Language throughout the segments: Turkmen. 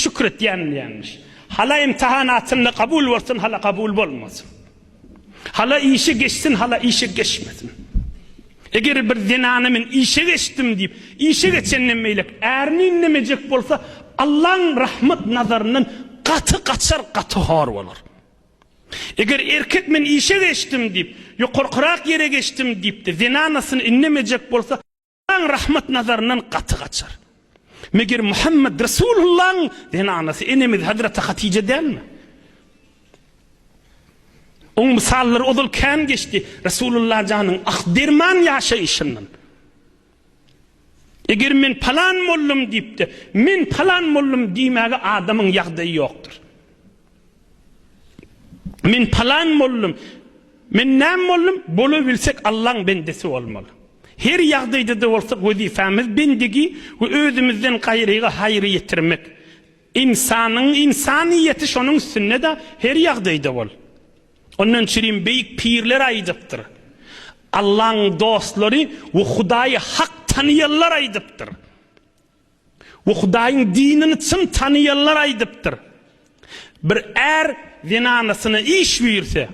Şükür etýän diýýänmiş. Hala imtahan atynda kabul bolsun hala kabul bolmasyn. Hala işe geçsin hala işe geçmesin. Eger bir zenana men işe geçdim diýip, işe geçenden beýlek ärini inlemejek bolsa, Allaň rahmat nazaryndan gaty gaçar, gaty hor bolar. Eger erkek men işe geçdim diýip, ýokarkyrak ýere geçdim diýip-de zenanasyny inlemejek bolsa, Allaň rahmat nazaryndan gaty gaçar. Meger Muhammed Resulullahyň zenanasy enemiz Hazreti Hatije dälmi? Oň mysallary ozal kän geçdi Resulullah janyň ak derman ýaşaýşyndan. Eger men palan mollum diýipdi, men palan mollum diýmäge adamyň ýagdaýy ýokdur. Men palan boldum, men näme boldum, bolabilsek Allaň bendesi bolmaly. Her ýagdaýdada bolsa wezipamiz bendigi we özümizden gaýryga haýry ýetirmek. Ynsanyň ynsanyýeti şonuň üstünde-de her ýagdaýda bol. Ondan çirim beýik pirler aýdypdyr. Allaň dostlary we Hudaýy hak tanyýanlar aýdypdyr. Bu Hudaýyň dinini çyn tanaýanlar aýdypdyr. Bir är zenanasyna iş buýursa,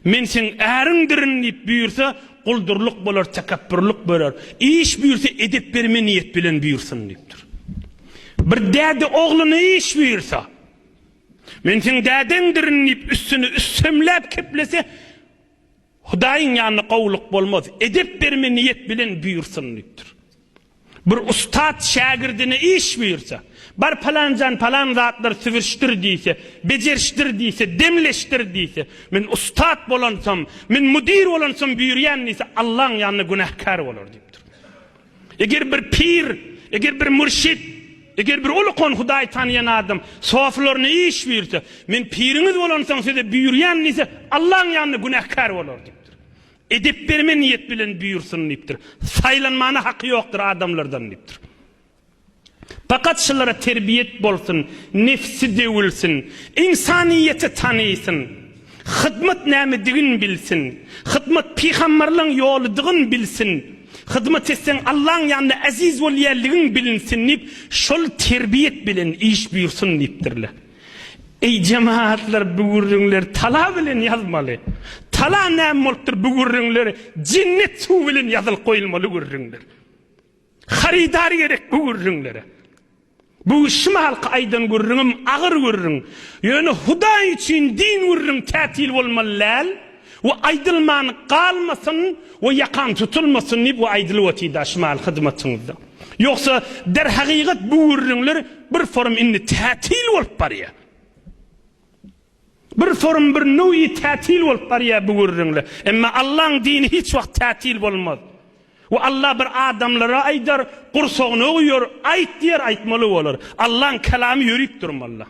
Men seň äriňdirin diýip buýursa, guldurlyk bolar, tekepbürlik bolar. Iş buýursa, edep berme niýet bilen buýursyn diýipdir. Bir däde ogluna iş buýursa, Men seň dädeňdirin diýip üstüni üssemläp keplese, Hudaýyň ýanynda gowulyk bolmaz, edep berme niýet bilen buýursun diýipdir. Bir ussat şägirdine iş buýursa, Bar palanjan palan zatlar sübürişdir diýse, bejerişdir diýse, demleşdir diýse, Men ussat bolansam, men müdir bolansam buýurýan diýse, Allaň ýanynda günäkär bolar diýipdir. Eger bir pir, eger bir mürşit, eger bir ulukan Hudaýy tanaýan adam soflaryna iş buýursa, Men piriňiz bolansoň size buýurýan diýse, Allaň ýanynda günäkär bolar diýipdir. Edep berme niýet bilen buýursyn diýipdir. Saýlanmana haky ýokdur adamlardan diýipdir. Pakat şulara terbiýet bolsun, nefsi döwülsin, ynsanyýeti tanysyn, hyzmat nämedigin bilsin, hyzmat pygamberleň ýoludygyn bilsin, hyzmat etseň Allaň ýanynda eziz bolýanligiň bilinsin diýip şol terbiýet bilen iş buýursun diýipdirler. Eý jemagatlar bu gürrüňleri tala bilen ýazmaly. Tala näme bolupdyr bu gürrüňleri jennet suwy bilen ýazylyp goýulmaly gürrüňdir. Harydar gerek bu gürrüňlere. Bu şimalky aýdan gürrüňem agyr gürrüň. Ýöne Hudaý üçin din gürrüň tätil bolmaly däl we aýdylman galmasyn we ýakaň tutulmasyn diýip we aýdylyp otyda şimal hyzmatyňyzda. Ýogsa derhagygat bu gürrüňler bir forum indi tätil bolup barýar. Bir sorun bir nowi tätil bolup barýar bu gürrüňle. Emma Allaň dini hiç wagt tätil bolmaz. We Alla bir adamlara aýdar, gursagyna guýar, aýt diýer aýtmaly bolar. Allaň kalamy ýörüp durmalla.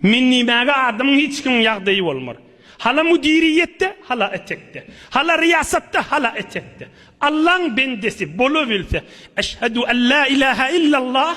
Men diýmäge adamyň hiç kimiň ýagdaýy bolmar. Hala müdiriýetde, hala etekde. Hala ryýasatda, hala etekde. Allaň bendesi bolabilse, Eşhedü ellä ilahe illallah.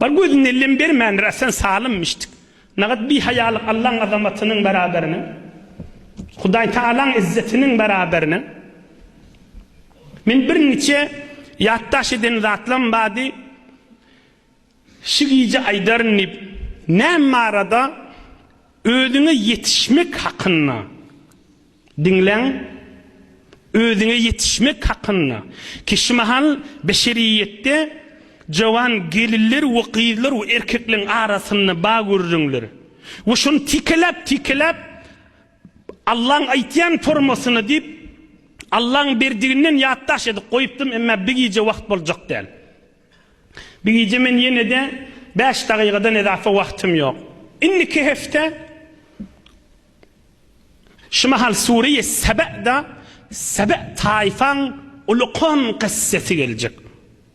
Bar gözüne lem bermändir, a sen salym, müşdik. Nagat bihaýalyk Allaň azamatynyň bäraberine, Hudaýtagalaň izzetiniň bäraberine. Men birniçe ýatdaş eden zatlam bady, şi gije aýdaryn diýip, näme barada özüňe ýetişmek hakynda. Diňläň, özüňe ýetişmek hakynda. Kişimahal beşeriýetde jowan gelinler we gyzlar we erkekleriň arasynda ba gürrüňler. We şony tikeläp-tikeläp Allaň aýtýan formasyna diýip, Allaň berdiginden ýatdaş edip goýupdym, emma bi gije wagt boljak däl. Bi gije men ýene-de bäş dagykadan edape wagtym ýok. Indiki hepde Şu mahal Sure-i Seba'da Sebe taýfaň ulykan kyssasy geljek.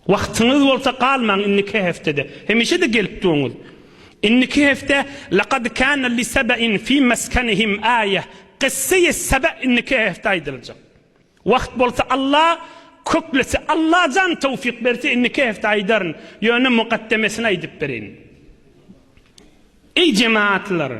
Wagtyňyz bolsa galmaň indiki hepdede. Hemişe-de gelip duruňyz. Indiki hepde Lekad kana li Sebe'in fi meskenihim aýe, Kyssa-i Sebe indiki hepde aýdyljak. Wagt bolsa Alla köklese Allajan towfyk berse indi iki hepde aýdaryn ýöne mugaddemesini aýdyp bereýin. Eý jematlar!